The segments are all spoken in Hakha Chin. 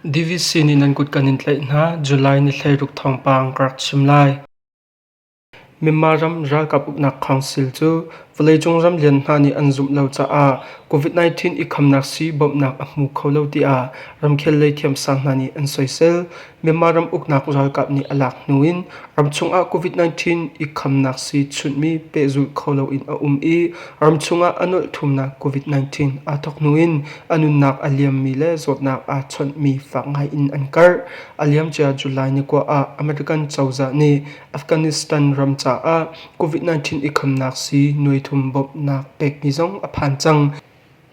Davis sin in an kut kan in tlaih hna, July ni hleiruk thawngpang ka rak chim lai. Myanmar ram ralkap uknak council cu vawleicung ram lian hna nih an zumh lo caah COVID-19 i khamnak sii bawmhnak a hmu kho lo tiah ramkhel lei thiamsang hna nih an soisel. Myanmar ram uknak ralkap nih a lak hnu in ram chungah COVID-19 i khamnak sii chunhmi pehzulh kho loin a um i ram chungah a nolh thumnak COVID-19 aa thawk hnu in a nunnak a liammi le zawtnak aa chawnhmi fak ngai in an karh. A liam cia July ni kua ah American cozah nih Afghanistan ram caah COVID-19 i khamnak sii nuai thum bawmhnak pekmi zong a phan cang.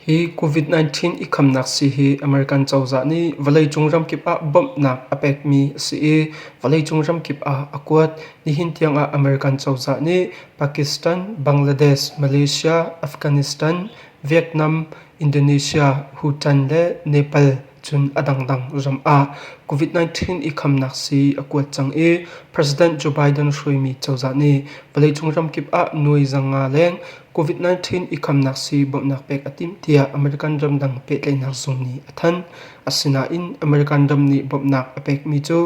Hi COVID-19 i khamnak sii hi American cozah nih vawleicung ramkip ah bawmhnak a pekmi a si i vawleicung ramkip ah a kuat. Nihin tiangah American cozah nih Pakistan, Bangladesh, Malaysia, Afghanistan, Vietnam, Indonesia, Bhutan le Nepal Cun a dangdang ram ah COVID-19 i khamnak sii a kuat cang i President Joe Biden hruaimi cozah nih vawleicung ramkip ah nuai za nga leng COVID-19 i khamnak sii bawmhnak pek a timh tiah American ramdang pehtlaihnak zung nih a thanh. Asinain American ram nih bawmhnak a pekmi cu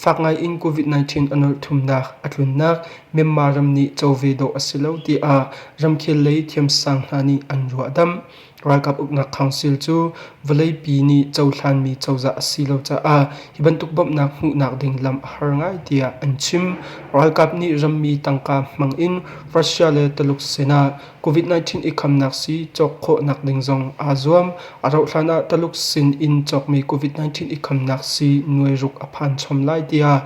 fak ngai in COVID-19 a nawlh thumnak a tlunnak Myanmar ram nih co ve dawh a si lo tiah ramkhel lei thiamsang hna nih an ruahdamh. Ralkap uknak council cu vawleipi nih cohlanmi cozah a si lo caah hi bantuk bawmhnak hmuhnak ding lam a har ngai tiah an chim. Ralkap nih rammi tangka hmang in Russia le Tuluk sinah COVID-19 i khamnak sii cawk khawhnak ding zong aa zuam. A rauh hlan ah Tuluk sin in cawkmi COVID-19 i khamnak sii nuai ruk a phan chom lai tiah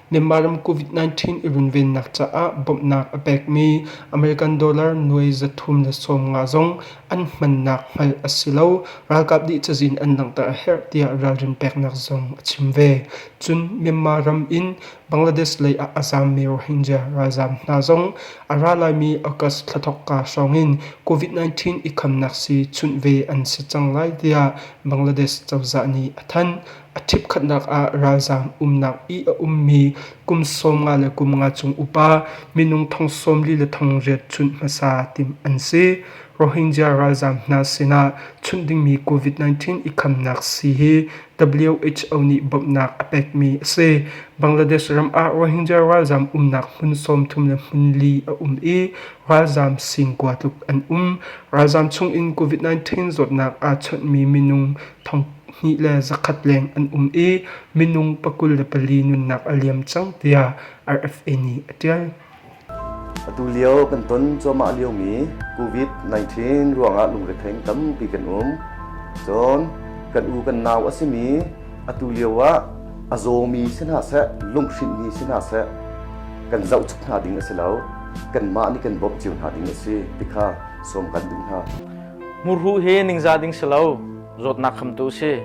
Myanmar ram COVID-19 i runvennak caah bawmhnak a pekmi American dollar nuai zathum le sawm nga zong an hmannak hngalh a si lo. Ralkap nih cazin an langhter a herh tiah ralrin peknak zong a chim ve. Cun Myanmar ram in Bangladesh lei ah a zaammi Rohingya ralzaam hna zong a ra laimi August thla thawkka hrawngin COVID-19 i khamnak sii chunh ve an si cang lai tiah Bangladesh cozah nih a thanh. A ṭhipkhatnak ah ralzaam umnak i a ummi kum sawm nga le kum nga chung upa minung thong sawm li le thong riat chunh hmasa timh an si. Rohingya ralzaam hna sinah chunh dingmi COVID-19 i khamnak si hi WHO nih bawmhnak a pekmi a si. Bangladesh ram ah Rohingya ralzaam umnak hmun sawmthum le hmun li a um i ralzaam sing kua tluk an um. Ralzaam chung in COVID-19 zawtnak aa chawnhmi minung thonghnih le zakhat leng an um i minung pakul le pali nunnak a liam cang tiah RFA nih a ṭial. Atu lio kan ton cuahmah liomi COVID-19 ruangah lungretheng tampi kan um. Cun kan u kan nau a simi atu lio ah a zawmi si hna seh lunghrinh si hna seh kan zoh chuk hna ding a si lo kanmah nih kan bawmh cio hna ding a si ti kha sawm kan duh hna. Hmurhuh hi ningzah ding si lo, zawtnak khamtu si.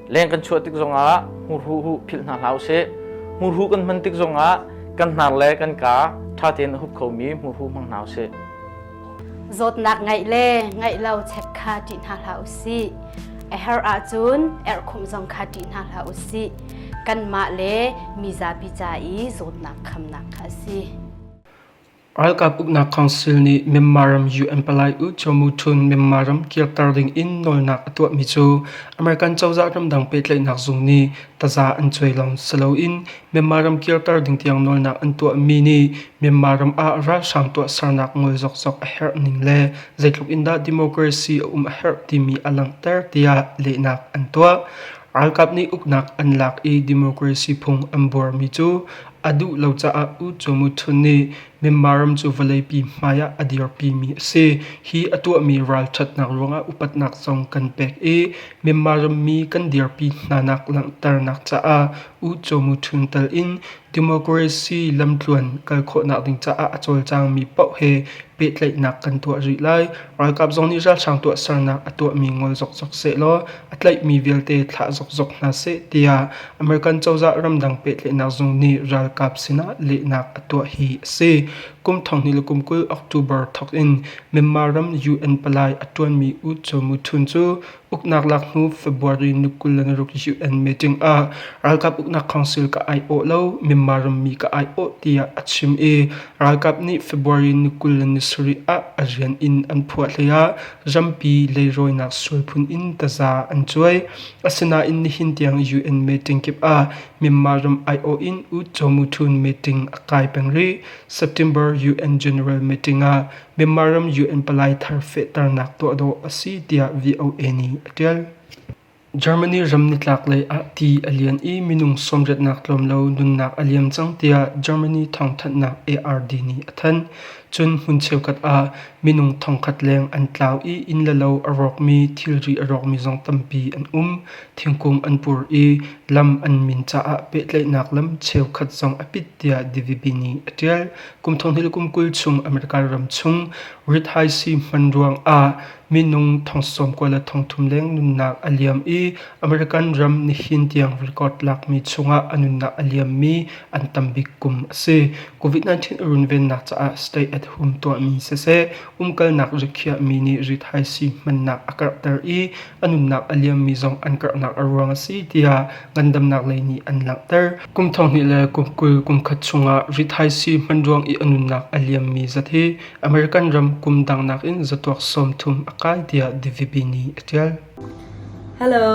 Leng kan chuah tik zongah hmurhuh huh philh hna hlah usih. Hmurhuh kan hman tik zongah kan hnar le kan ka ṭha tein a hup khomi hmurhuh hmang hna usih. Zawtnak ngeih le ngeih lo check kha ṭih hna hlah usih. A her ahcun erhkhumh zong kha ṭih hna hlah usih. Kanmah le mizapi ca i zawtnak khamnak kha a si. Ralkap uknak council nih Myanmar ram UN palai U Cho Mu Htun Myanmar ram kirter dingin nawlnak a tuahmi cu American cozah ramdang pehtlaihnak zung nih taza an cuai lawng si loin Myanmar ram kirter ding tiang nawlnak an tuahmi nih Myanmar ram ah ralhrang tuahsernak ngol zokzok a herh ning le zeitluk in dah democracy a um a herh timi a langhter tiah lehnak an tuah. Ralkap nih uknak an lak i democracy phung an buarmi cu A duh lo caah U Cho Mu Htun nih Myanmar ram cu vawleipi hmai ah a dirpimi a si. Hi a tuahmi ralṭhatnak ruangah upatnak zong kan pek i Myanmar rammi kan dirpi hnanak langhternak caah U Cho Mu Htun tel in democracy lamtluan kal khawhnak ding caah a cawlcangmi paoh he pehtlaihnak kan tuah rih lai. Ralkap zong nih ralhrang tuahsernak a tuahmi ngol zokzok sehlaw a tlaihmi vialte thlah zokzok hna seh tiah American cozah ramdang pehtlaihnak zung nih ralkap sinah lehnak a tuah hi a si. Kum thonghni le kum kul October thawk in Myanmar ram UN palai a ṭuanmi U Cho Muthun cu uknak lak hnu February ni kul le naruk UN meeting ah ralkap uknak council ka aiawh lo Myanmar rammi ka aiawh tiah a chim i ralkap nih February ni kul le ni sarih ah a rian in an phuah hleiah Rampi leirawinak sual phun in taza an cuai. Asinain nihin tiang UN meeting kip ah Myanmar ram aiawh in U Cho Muthun meeting a kai peng rih. September UN General meeting ah Myanmar ram UN palai thar fehternak tuah dawh a si tiah VOA nih a ṭial. Germany ram nitlaklei ah ti a lian i minung sawmriatnak tlawm lo nunnak a liam cang tiah Germany thawngthanhnak ARD nih a thanh. Cun hmun cheukhat ah minung thongkhat leng an tlau i inn le lo a rawkmi thilri a rawkmi zong tampi an um. Thingkung an pur i lam an min caah pehtlaihnak lam cheukhat zong a pit tiah The Vipy nih a tial. Kum thonghnih le kum kul chung American ram chung rit haisi hman ruang ah Minung thong sawm kua le thong thum leng nunnak a liam i American ram nihin tiang record lakmi chungah a nunnak a liammi an tam bik kum a si. COVID-19 runvennak caah stay at home tuahmi siseh, umkalnak rikhiahmi nih rithaisi hmannak a karhter i a nunnak a liammi zong an karhnak a ruang a si tiah ngandamnak lei nih an langhter. Kum thong hnih le kum kul kum khat chungah rithaisi hman ruang i a nunnak a liammi zat hi American ram kum dang nakin zatuak sawmthum a kai tiah DVB nih a ṭial. Hello,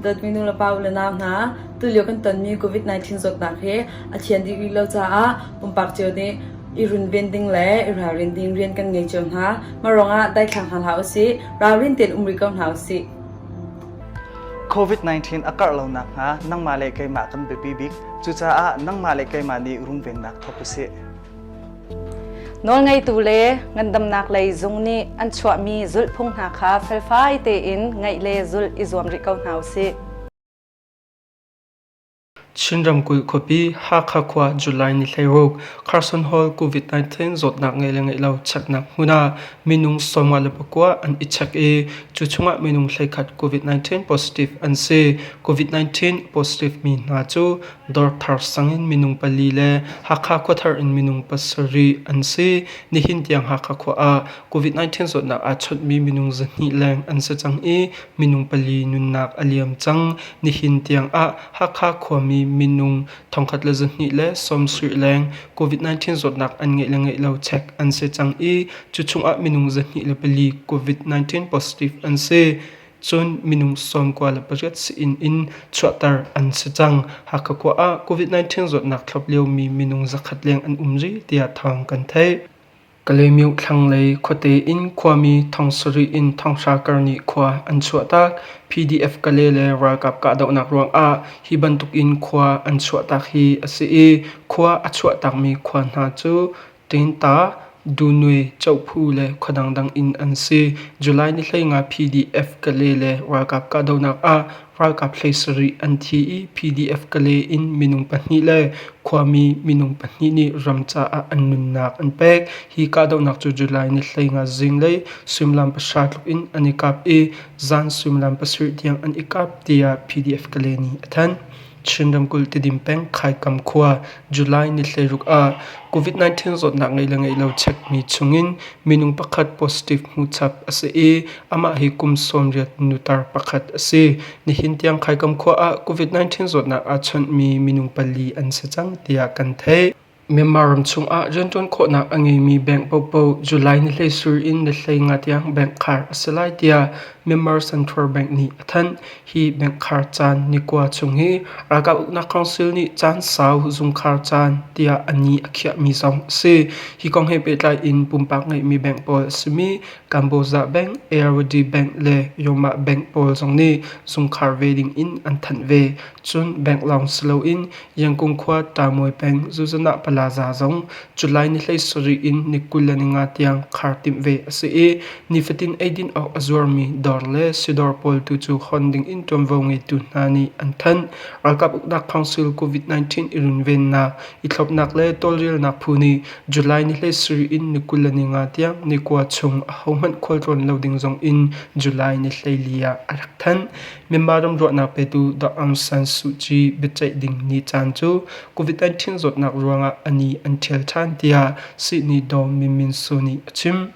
dawtmi nu le pa u le nau hna. Tulio kan tonmi COVID-19 zawtnak hi a thian dih rih lo caah pumpak cio nih i runven ding le i ralrin ding rian kan ngei cio hna. Marawng ah daithlang hna hlah usih, ralrin tein umri ko hna usih. COVID-19 a karh lonak hnga nangmah le keimah kan biapi bik. Cucaah nangmah le keimah nih runvennak thawk usih. Nawlngeitu le ngandamnak lei zung nih an chuahmi zulhphung hna kha felfai tein ngaih le zulh i zuam rih ko hna u sih. Chin ramkulh khuapi Hakha khua July ni hleiruk Carson Hall COVID-19 zawtnak ngeih le ngeih lo cheknak hmun ah minung sawmnga le pakua an i chek i cu chungah minung hleikhat COVID-19 positive an si. COVID-19 positive mi hna cu Dawrthar sang in minung pali le Hakha khuathar in minung pasarih an si. Nihin tiang Hakha khua ah COVID-19 zawtnak aa chawtmi minung zahnih leng an si cang i minung pali nunnak a liam cang. Nihin tiang ah Hakha khuami minung thongkhat le zahnih le sawmsuih leng COVID-19 zawtnak an ngeih le ngeih lo check an si cang i cu chungah minung zahnih le pali COVID-19 positive an si. Cun minung sawmkua le pariat si-inn in chuahter an si cang. Hakha khua ah COVID-19 zawtnak thlop liomi minung zakhat leng an um rih tiah thawng kan theih. Kalaymyo thlanglei khuate in khuami thong sarih in thonghra kar nih khua an chuahtak. PDF Kale le ralkap kahdohnak ruangah hi bantuk in khua an chuahtak hi a si i khua a chuahtakmi khua hna cu tehta, dunue, cohphu le khua dangdang in an si. July ni hleinga PDF Kale le ralkap kahdohnak ah ralkap hlei sarih an thi i PDF Kale in minung pahnih le khuami minung pahnih nih ram caah an nunnak an pek. Hi kahdohnak cu July ni hleinga zinglei suimilam pahra tluk in an i kap i zan suimilam pasarih tiang an i kap tiah PDF Kale nih a thanh. Chin ramkulh Tedim peng Khaikam khua July ni thleiruk ah COVID-19 zawtnak ngeih le ngeih lo chekmi chungin minung pakhat positive hmuhchap a si i amah hi kum sawmriat nutar pakhat a si. Nihin tiang Khaikam khua ah COVID-19 zawtnak aa chawnhmi minung pali an si cang tiah kan theih. Myanmar ram chungah rianṭuan khawhnak a ngeimi bank paohpaoh July ni hleisur in ni hlei nga tiang bank khar a si lai tiah Myanmar Central Bank nih a thanh. Hi bank khar caan ni kua chung hi Ralkap Uknak Council nih caan sau zungkhar caan tiah a ni a khiahmi zong a si. Hi kong he pehtlai in pumpak ngeihmi bank pawl a simi Kamboza Bank, Ayurvedic Bank le Yoma Bank pawl zong nih zungkhar ve ding in an thanh ve. Cun bank lawng si loin Yangon khua Tamuai peng Zuzanah Plaza zong July ni hlei sarih in ni kul le ni nga tiang khar timh ve a si i nifatin eidin awk a zuarmi dawr le sidawr pawl tu cu hon ding in ṭuanvo ngeitu hna nih an thanh. Ralkap uknak council COVID-19 i runvennak, i thlopnak le tawlrelnak phu nih July ni hlei sarih in ni kul le ni nga tiang ni kua chung ahohmanh khualtlawn lo ding zong in July ni hlei li ah a rak thanh. Myanmar ram ruahnak petu Dr. Aung San Suu Kyi biaceih ding ni caan cu COVID-19 zawtnak ruangah a ni an ṭhial ṭhan tiah Sihni Daw Min Min Su nih a chim.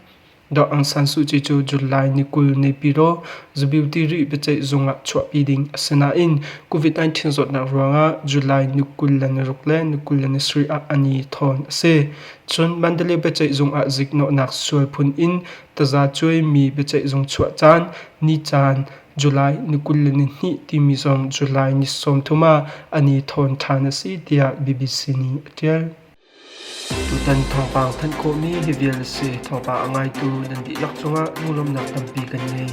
Dr. Aung San Suu Kyi cu July ni kul ni piro zabiuti ri biaceih zung ah chuahpi ding a si nain COVID-19 zawtnak ruangah July ni kul le ni ruk le ni kul le ni sarih ah a ni thawn a si. Cun Mandalay biaceih zung ah ziknawhnak sual phun in tazacuai mi biaceih zung chuah caan ni caan July ni kul le ni hnih timi zong July ni sawmthum ah an i thawn ṭhan a si tiah BBC nih a ṭial. Tutan thawngpang thanh khawhmi hi vial a si. Thawngpang a ngaitu nan dihlak cungah lunglawmhnak tampi kan ngei.